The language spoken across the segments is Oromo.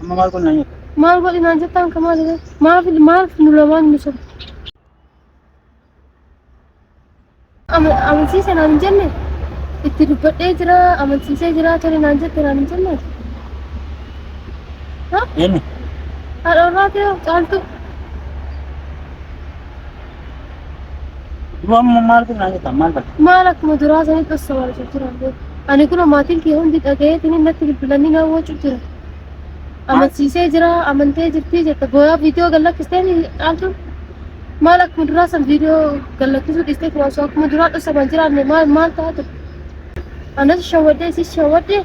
Amma maal godhinaan jettu? Maal godhinaan jettaan ka maal maaf maaf nu lamaan nu sobu. Amansiise naan hin jenne itti dubbadhee jira amansiisee jira tole naan jette naan hin jenne. Eenyu? Haadha warraa kee caaltuu. Du'a immoo maal kun naan jettan maal bakka? Maal akkuma duraa sanitti osoo wal jijjiiran beeku. Ani kun maatiin kee hundi dhagayeetiin natti bilbilanii na wacuu jira. Amansiisee jira, amantee jirtii jetta. Booyaa viidiyoo gad lakkistee ni dhaaltuun. Maal akkuma duraa san viidiyoo gad lakkisuu dhiistee osoo akkuma duraa dhosama jiraanne maal maal taatu? Anas shawwadde, isis shawwadde.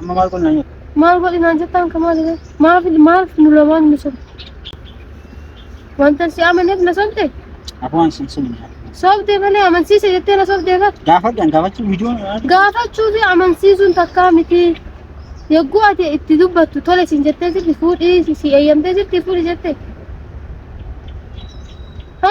Amma maal godhinaan jettu? Maal godhinaan jettaan ka maal jedhan? Maaf maaf nu lamaan nu sobde? Wanta si amaneef na sobde? Afaan sin sun. Sobde malee amansiise jettee na sobde bar. Gaafadhaan gaafachuu viidiyoon. Gaafachuu fi amansiisuun takkaa miti. Yogguu ati itti dubbattu tole sin jettee sitti fuudhii si- si eeyyamtee sitti fuudhi jette. Ha?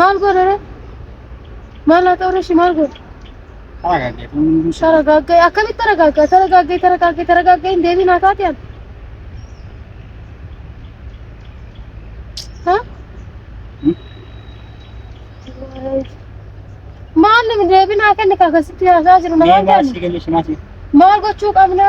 Maal godhare? Maal haa ta'u ishii maal godhe? Haragaagee kun hunduu isaa. Taragaaggae akkamitti taragaaggaa? Taragaaggae taragaaggae taragaaggae hin deebiin haa taate ani. Ha? Maal deebiin haa kenni akkasitti haasaa jiru namaan Mee kenni. maasii galii shimaasii. Maal gochuu qabna?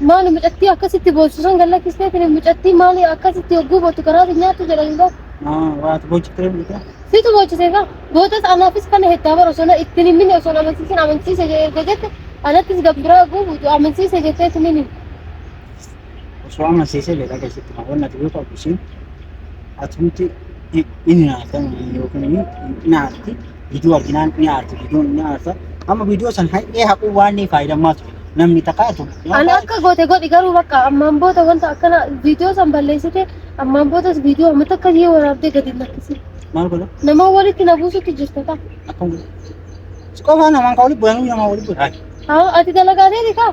Maali mucattii akkasitti boossu san galla kisteetiin mucattii maali akkasitti hogguu bootu garaa si nyaattu jedhanii boo. Ah, waati bochitee miti. Situ boochise gaa. Bootas anaafis kana heddaa bara osoo na ittiin himini osoo na amansiisin amansiise jedhee erga jette anattis gabbiraa oguu buutu amansiise jettee isin himi. Osoo amansiisee jedha keessatti kan wanna ta'uu qabu isin atumti inni naaftan yookiin inni naafti. Viidiyoo arginaan ni aarti, viidiyoon ni aarta. Amma viidiyoo san haqee haquu waan ni faayidammaa ture. Namni takkaatu. Ani akka goote godhi garuu bakka ammaan booda wanta akkana viidiyoo san balleessite ammaan boodas viidiyoo amma takka yoo waraabdee gadi hin lakkisi. Maal godha? Nama walitti na buusutti jirta ta'a. Akkam godha? Si qofaa namaan kan walitti bu'an namaa walitti bu'an. Haa ati dalagaateeti kaa?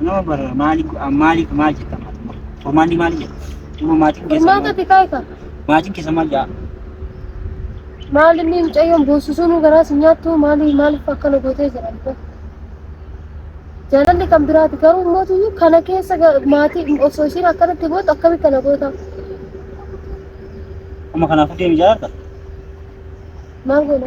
Nama bara maali maali maal jetta maatummaa? Furmaanni maali jetta? Dhuma maatiin keessa Furmaata maal? xiqqaa egaa. Maatiin keessa maal jaa? Maal inni mucayyoon boossisuun garaa si nyaattu maali maaliif akkana gootee jedhan kun. Jaalalli kan biraati garuu immoo tuyyu kana keessa ga- maatii osoo ishiin akkanatti gootu akkamitti kana goota? Amma kanaafuu deemi jaalladha. Maal goona?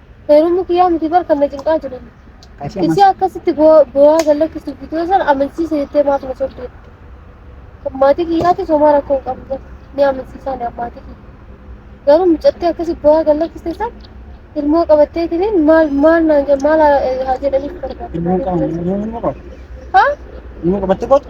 Heerumni kiyyaa miti bar kan na cinqaa jiru. Qashama. Isii akkasitti boo- boo'aa gallakkisuuf viidiyoo sana amansiisa jettee maaf na sobdee? Kan maatii kiyyaatis homaa rakkoo hin qabu bar. Ni amansiisaa ni maatii kiyya. Garuu mucattii akkasi boo'aa gallakkiste san ilmoo qabattee tiniin maal maal naan jedha maal haa eh, haa jedhaniif barbaadde? Ilmoo qabu. Ilmoo qabu. Haa? Ilmoo qabattee kootu.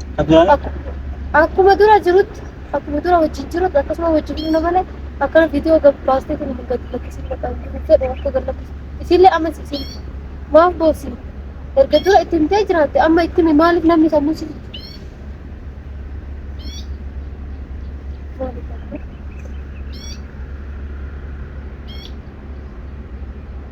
Abdulaa Akku- akkuma dura jirutti akkuma dura wajjin jirutti akkasuma wajjin jiru malee akkana viidiyoo gabbaastee kun hin gadi lakkisiin maqaan jiru jedhe akka gad lakkisu isiillee amma isiin maaf boossi erga dura itti himtee jiraatte amma itti himi maaliif namni sammuu si maaliif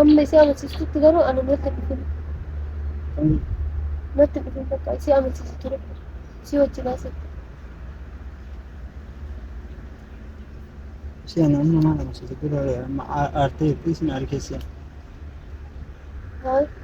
Amma isii amansiistutti garuu ani natti dhufin. Natti dhufin bakka isii amansiisu ture. Isii wajjin haasa'e. Si ana amma maal amansiisa dura amma aartee fi isin argeessi. Haa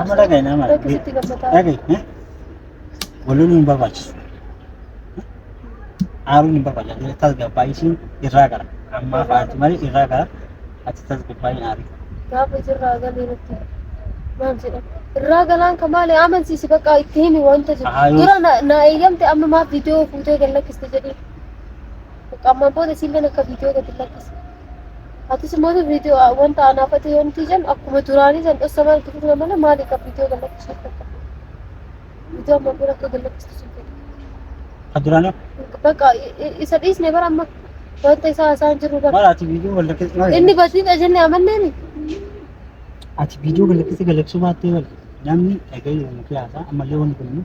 Amma dhaga'i nama dhaga'i. Dhaga'i. eh? Waloon hin barbaachisu. Aaruun hin barbaachisu. Ati tasgabbaa'ii siin irraa gara. Ammaa faati malee irraa gara. Ati tasgabbaa'ii hin aarin. Gaafa jirraa galee irratti maal jedhan? Irraa galaan ka maali amansiisi bakka itti himi wanta jiru. Ahaa, yoo- Dura na- na eeyyamte amma maaf viidiyoo fuutee gad lakkiste jedhee. Qammaan booda isiilleen akka viidiyoo gad hin lakkiste. Atis immoo viidiyoo wanta anaafate yoo nuti jennu akkuma duraanii san dhossa maal itti fufna malee maali kan viidiyoo gallachiisu akka qabu. Viidiyoo amma bira akka gallachiisu sun jedhu. Kan duraanii Bakka i- i- isa dhiisne bara amma wanta isaa haasaan jirru bara. maal ati viidiyoo wal lakkisee maal Inni badiidha jennee amanneemi. ati viidiyoo wal lakkisee galaksuu baattee wal namni dhaga'ee wal lakkisee haasaa ammallee wanni kun